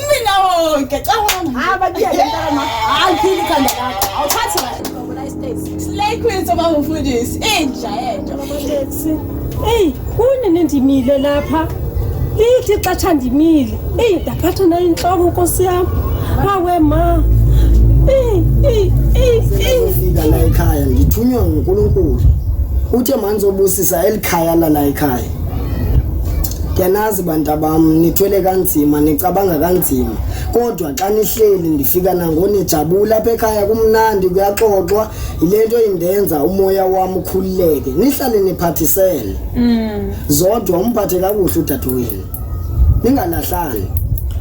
Mina wonke cabanga haba kuyeke mntana hayi phili khanda lakho awuthathi kahle slay queen soba mfundisi inja yento Hey, kune nendimile lapha. Lithi xatsha ndimile. Hey, ndaphatha nayo inhloko Nkosi yami. Hawe ma. Hey, hey, hey, hey. Ngizofika la ekhaya ngithunywa nguNkulunkulu. Uthe manje obusisa elikhaya lala ekhaya. Yanazi bantabam nithwele kanzima nicabanga kanzima kodwa xa nihleli ndifika nangonijabula apha ekhaya kumnandi kuyaxoxwa yile nto indenza umoya wam ukhululeke nihlale niphathisele mm. zodwa umphathe kakuhle udadewenu ningalahlani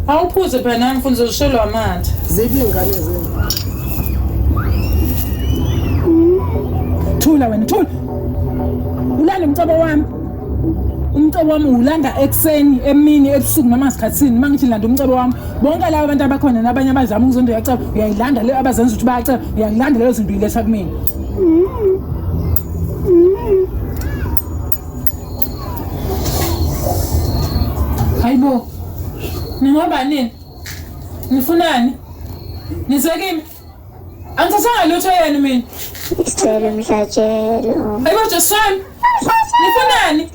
awuphuze phela nami mfundisi uzishelwa amathe ziphi iy'ngane zenu thula wena thula ulanda umcobo wami umcobo wami ulanda ekuseni emini ebusuku noma sikhathini uma ngithi landa umcobo wami bonke laba abantu abakhona nabanye abazama ukuzonda uyaceba uyayilanda leyo abazenza ukuthi bayaceba uyayilanda leyo zinto uyiletha kumina hayibo ningoba nini nifunani nizekimi Angithathanga lutho yena mina. Isicelo mhlatshelo. Ayibo Josan. Nifunani?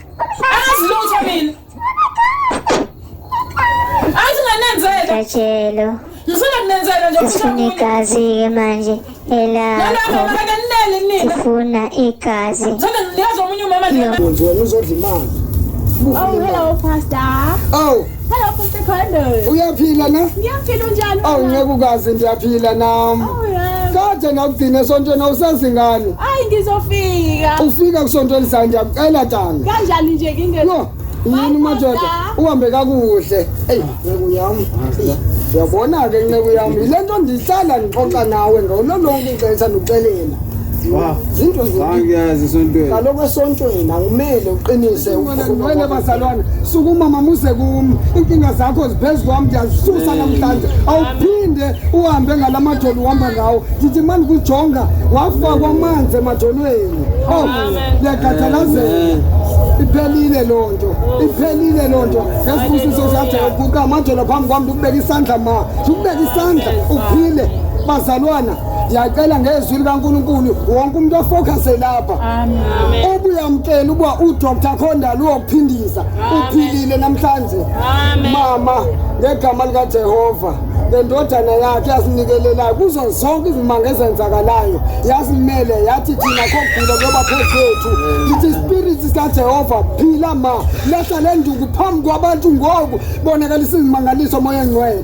Angazi lutho mina. Angazi nganenzela. Mhlatshelo. Ngifuna kunenzela nje Sifuna igazi ke manje elakho. Sifuna igazi. Ngithanda ngiyazi omunye umama nje. Wena uzodla imali. Awu hello pastor. Awu. Hello, Mr. Carlos. Uyaphila na? Ngiyaphila unjani? Awu ngeke ukazi ndiyaphila nami. Oh, yeah. Kade ngakugcina esontweni awusazingane. Hayi ngizofika. Ufika kusonto elizayo ndiyakucela tanga. Kanjani nje kinge? No. Yini madoda? Uhambe kakuhle. Ey, nceku yami. Uyabona ke nceku yami, lento ndihlala ngixoxa nawe ngololonke ixesha nduxelela. zinto zangiyazi esontweni kaloku esontweni angimele uqinise wena bazalwana sukuma mamuse kum iinkinga zakho ziphezu kwam ndiyazisusa namhlanje awuphinde uhambe ngala majoli uhamba ngawo ndithi ma ndikujonga wafakwa amanzi emajolweni o oh, ndiyakhathalazela iphelile loo nto iphelile loo nto ngesibusiso sajayo kuka amajolo phambi kwam ndikubeka isandla ma ndikubeka isandla uphile bazalwana Ndiyacela ngezwi likaNkulunkulu wonke umuntu ofocuse lapha. Amen. Ubuyamkela ukuba uDr Khondala uyokuphindisa. Uphilile namhlanje. Amen. Mama ngegama likaJehova lendodana yakhe yasinikelelayo kuzo zonke izimanga ezenzakalayo yasimele yathi thina khogula ngoba phezethu ithi spirit sikajehova phila ma lehla le nduku phambi kwabantu ngoku bonakalisa izimangaliso moya engcwele